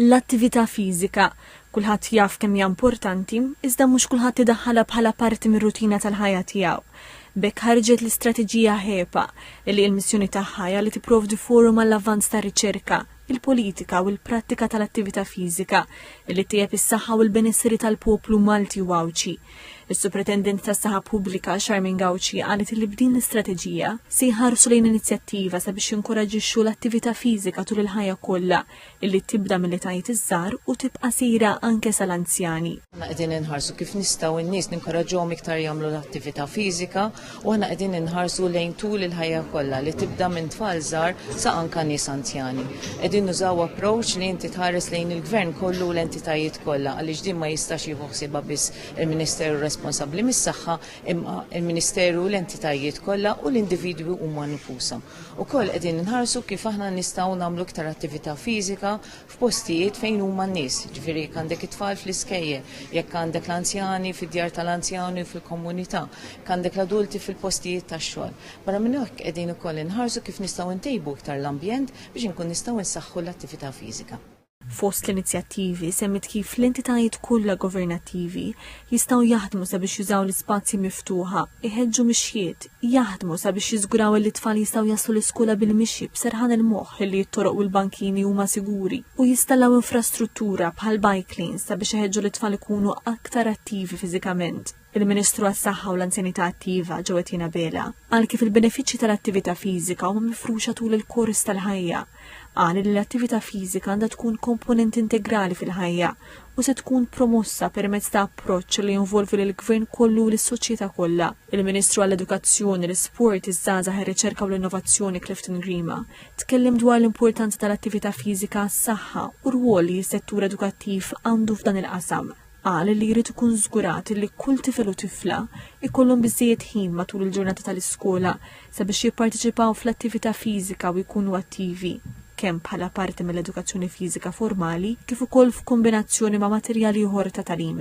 L-attività fiżika, kulħadd jaf kemm hija importanti, iżda mhux kulħadd idaħħalha bħala parti mir-rutina tal-ħajja tiegħu. B'hekk ħarġet l-istrateġija HEPA, li il-missjoni tagħha hija li tipprovdi forum għall-avvanz tar-riċerka, il-politika u l-prattika tal-attività fiżika, li ttejjeb is-saħħa u l-benesseri tal-poplu Malti u Għawdxi. Is-Supretendent tas-Saħħa Pubblika, Charmaine Gauci, qalet li b'din l-istrateġija se jħarsu lejn inizjattiva sabiex jinkoraġġixxu l-attività fiżika tul il-ħajja kollha, illi tibda mill-etajiet iż-żgħar u tibqa' sejra anke sal-anzjani. Aħna qegħdin inħarsu kif nistgħu n-nies ninkoraġġuhom iktar jagħmlu l-attività fiżika u aħna qegħdin inħarsu lejn tul il-ħajja kollha li tibda minn tfal żgħar sa anke nies anzjani. Qegħdin nużaw approach li inti tħares lejn il-Gvern kollu u l-entitajiet kollha għaliex din ma jistax jieħu ħsiebha biss il-Ministeru responsabbli mis-Saħħa imma l-Ministeru u l-entitajiet kollha u l-individwi huma nfushom. Ukoll qegħdin inħarsu kif aħna nistgħu nagħmlu iktar attività fiżika f'postijiet fejn huma n-nies, ġifieri jekk għandek it-tfal fl-iskejjel, jekk għandek l-anzjani fid-djar tal-anzjani u fil-komunità, jekk għandek l-adulti fil-postijiet tax-xogħol. Barra minn hekk qegħdin ukoll inħarsu kif nistgħu ntejbu iktar l-ambjent biex inkun nistgħu nsaħħu l-attività fiżika. Fost l-inizjattivi, semmiet kif l-entitajiet kollha governattivi jistgħu jaħdmu sabiex jużaw l-ispazji miftuħa, iħeġġu mixjiet, jaħdmu sabiex jiżguraw illi t-tfal jistgħu jaslu l-iskola bil-mixi b'serħan il-moħħ illi t-toroq u l-bankini huma siguri, u jistallaw infrastruttura bħal bike lanes sabiex iħeġġu lit-tfal ikunu aktar attivi fiżikament. il-Ministru għas-Saħħa u l-Anzjanità Attiva ġew qed jingħabela. Għal kif il-benefiċċji tal-attività fiżika huma mifruxa tul il-kors tal-ħajja. Qal li l-attività fiżika għandha tkun komponent integrali fil-ħajja u se tkun promossa permezz ta' approċċ li jinvolvi lill-gvern kollu u lis-soċjetà kollha. Il-Ministru għall-Edukazzjoni, l-Isport, iż-Żgħażagħ ir-Riċerka u l-Innovazzjoni Clifton Grima tkellem dwar l-importanza tal-attività fiżika għas-saħħa u r-rwol li s-settur edukattiv għandu f'dan il-qasam. Qal li jrid ikun żgurat li kull tifel u tifla jkollhom biżżejjed ħin matul il-ġurnata tal-iskola sabiex jipparteċipaw fl-attività fiżika u jkunu attivi, kemm bħala parti mill-edukazzjoni fiżika formali kif ukoll f'kombinazzjoni ma' materjal ieħor ta' tagħlim.